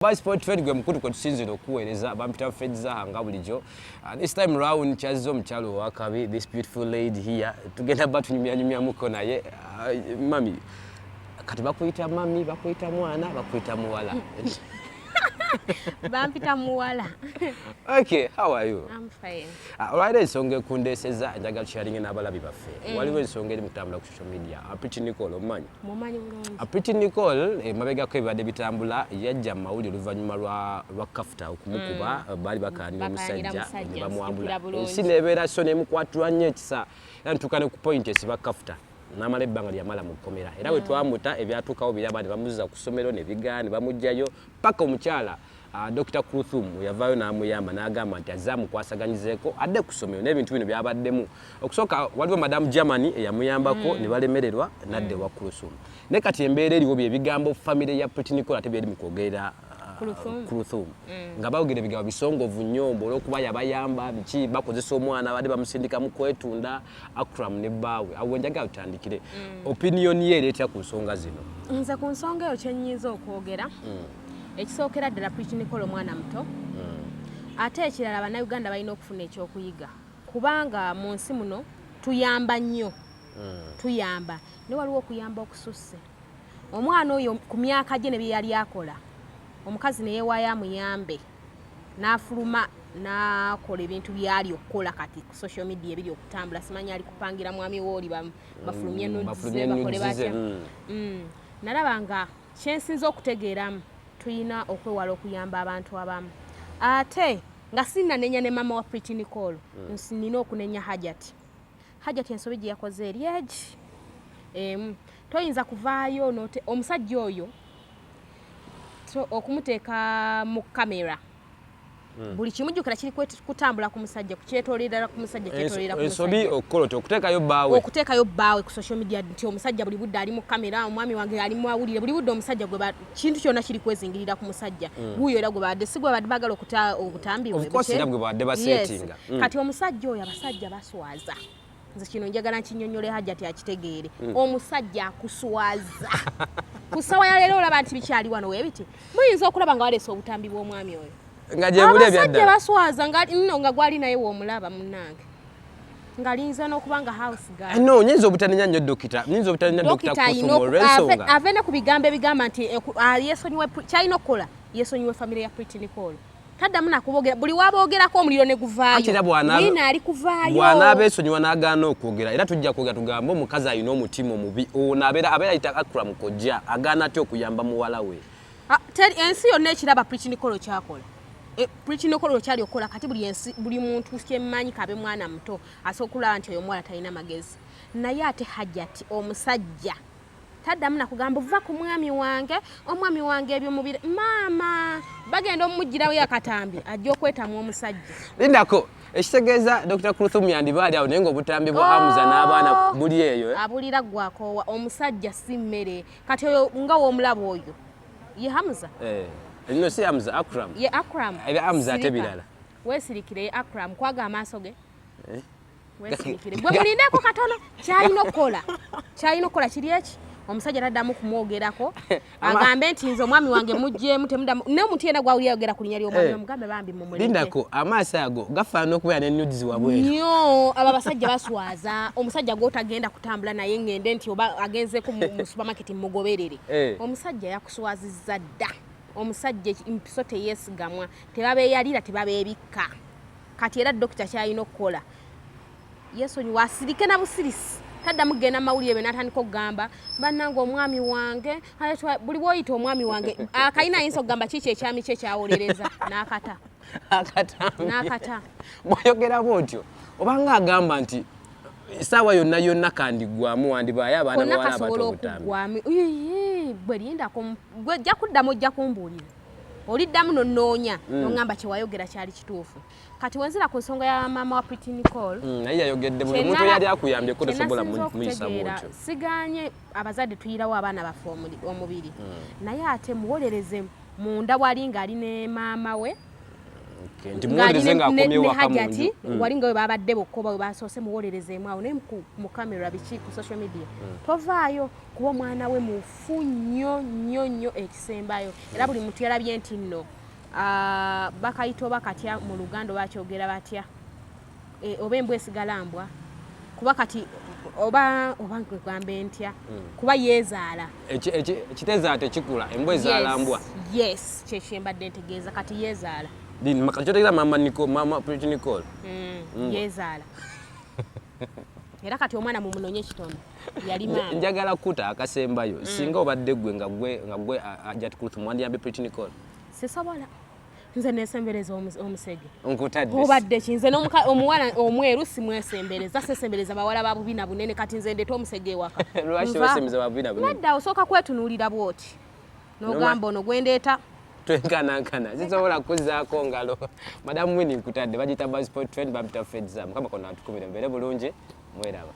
Vice Point Fred gwe mukulu kwe tusinzira okuweereza bampita Fred Zaha nga bulijjo uh, this time round kyazze omukyalo owakabi this beautiful lady here tugenda ba tunyumyanyumyamuko naye uh, mami kati bakuyita mami bakuyita mwana bakuyita muwala bampita muwala okay how are you I'm fine uh, olwaliro ensonga ekundeeseza njagala tusharinge n'abalabi baffe mm. waliwo ensonga eri mukutambula media apiti nicole omumanyi apiti nicole emabegako eh, ebibadde bitambula yajja mu mawulire oluvannyuma lwa kafuta okumukuba mm. eh, baali bakaanira omusajja nebamwambula ensi nebeera so nemukwatirwa nnyo ekisa era ntuuka ne ku point esiba kafuta namala ebbanga lyamala mu kkomera era mm. wetwamuta ebyatuukawo biraba ne bamuzza ku ssomero nebigaa ne bamugjayo paka omukyala Ah, Dokita Kruthum bwe yavaayo n'amuyamba n'agamba nti azze amukwasaganyizeeko adde ku ssomero n'ebintu bino byabaddemu okusooka waliwo madamu Germany eyamuyambako mm. ne balemererwa n'adda ewa mm. Kruthum naye kati embeera eriwo bye bigambo famire ya Pritinicola ate byeri mu kwogerera kuluthum ah, mm. nga bawogera ebigambo bisongovu nnyo mbu olwokuba yabayamba biki bakozesa omwana badde bamusindika mu kwetunda akram ne bbaawe awo wenjagala tutandikire opiniyoni ye ereetera ku nsonga zino nze ku nsonga eyo kyenyinza okwogera ekisookera ddala Pretty Nicole omwana muto hmm. ate ekirala bannayuganda balina okufuna ekyokuyiga kubanga mu nsi muno tuyamba nnyo hmm. tuyamba ne waliwo okuyamba okususse omwana oyo ku myaka gye ne bye yali akola omukazi ne yeewaayo amuyambe n'afuluma nakola ebintu byali okukola kati ku social media ebiri okutambula simanyi ali kupangira mwami wooli bafulumye mm, nodbakole batya mm. Mm. nalaba nga Kyensinze okutegeeramu tuyina okwewala okuyamba abantu abamu ate nga sinanenya ne mama wa Pretty Nicole mm. nina okunenya Hajati Hajati ensobi gye yakoze eri egi emu toyinza kuvaayo omusajja oyo okumuteeka mu kamera Hmm. buli kimu jukira kiri kutambula ku musajja kukyetolerera ku musajja kyetolerera ku musajja ensobi okukola otya okuteekayo bbaawe okuteekayo bbaawe ku social media nti omusajja buli budde ali mu kamera omwami wange ali mu awulire buli budde omusajja gwe kintu kyonna kiri kwezingirira ku musajja hmm. guuyo era gwe baadde si gwe baadde bagala okuta obutambi bwe bwe baadde baseetinga hmm. kati omusajja oyo abasajja baswaza nze kino njagala nkinyonyole hajati akitegeere mm. omusajja akuswaza ku ssawa ya leero olaba nti bikyali wano webiti muyinza okulaba nga waleese obutambi bw'omwami oyo nga gyebuli ebyaddaabasajja baswaza nga nno nga gwali naye womulaba munnange ngalinza nokuba nga house girl eh, no nyinza obutanenya nnyo dokita nyinza obutanenya dokita kusomo olwensonga ave ne ku bigambo ebigamba nti eh, ah, yesonyiwe kyalina okukola yesonyiwe famire ya pretty nicole taddamu nakubogera buli waboogerako omuliro ne guvaayoina ali kuvaayo bwana abeesonyiwa n'agaana okwogera era tujja kwogera tugambe omukazi alina omutima omubi ono abeera abeera yita akura mukojja agaana atya okuyamba muwala we ah, ensi yonna ekiraba prikinikolo kyakola e, prikinikolo okyali okukola kati buli ensi buli muntu kyemmanyi kabe mwana muto asobola okulaba nti oyo omuwala talina magezi naye ate hajati omusajja taddamu nakugamba vva ku mwami wange omwami wange ebyo mubiri maama bagenda omumugirawo yakatambi ajja okwetamwa omusajja lindako ekitegeeza dr kruthum yandiba ali awo naye ngaobutambi bwa oh! amuza n'abaana buli eyo eh? abulira gwakoowa omusajja si mmere kati oyo nga womulaba oyo ye hamuza eh, no si hamuza akram ye akram era hamuza ate birala wesirikire ye akram kwaga amaaso ge eh? gwe mulindeeko katono kyalina okukola kyalina okukola kiri eki omusajja taddamu kumwogerako agambe nti nze omwami wange mujjemu temudamu naye omuntu yena gwawuli ayogera ku linya lyomwami eh. omugambe bambi mumulindako amaaso ago gafaana okubeera ne nudes wabweru nyo abo abasajja baswaza omusajja gwotagenda kutambula naye ngende nti oba agenzeko mu supermarket mugoberere eh. omusajja yakuswaziza dda omusajja empiso teyesigamwa tebabeyalira tebabebikka kati era dokita kyalina okukola yesonyiwa asirike na busirisi taddamu kugenda mawulire be natandika okugamba bannange omwami wange buli bwoyita omwami wange akalina ayinza okugamba kiiki ekyami kye kyawolereza nakata nakata bwoyogera bwotyo obanga agamba nti esaawa yonna yonna kandigwamu wandibaayo abaana bawala abato obutambi bwe lindako gwe ojja kuddamu ojja kumbuulira oliddamu nonoonya mm. nongamba kyewayogera kyali kituufu kati wenzira ku nsonga ya maama wa pretty nicol mm, naye yayogedde buli muntu yali akuyambye ko tesobola muyisamuotyo siganye abazadde tuyirawo abaana baffe omubiri mm. naye ate muwolereze munda wali ngaali ne maama we hajati mm. walinga we babadde bokkoba we basoose muwolerezeemu awo naye mu camera biki ku social media mm. tovaayo kuba omwana we mufu fu nnyo nnyo nnyo ekisembayo era buli muntu yalabye nti nno ah, bakayita oba katya mu luganda oba kyogera batya eh, oba embwa esigala mbwa kuba kati oba oba nkugamba entya hmm. kuba yeezaala ekitezaala tekikula embwa ezaala mbwa yes kyekyembadde ntegeeza kati yeezaala kyotegeeza mama nicole mama pretty nicole hmm, hmm. yeezaala era kati omwana mumunonye ekitono yali maama njagala kuta akasembayo mm. singa obadde gwe nga gwe nga gwe ajat kutu mwandi yambe pretty nicole sisobola nze nesembereza omusege nkutadde obadde ki nze omuwala omweru simwesembereza sesembereza bawala ba bubina bunene kati nze ndeta omusege ewaka lwaki wesembereza ba bubina bunene nadda osooka kwetunuulira bwoti nogamba ono gwendeeta twenkanankana sisobola kuzaako ngalo madamu wini nkutadde bagiyita basport trend bampita fedza mukama kona atukumire mbeere bulungi mweraba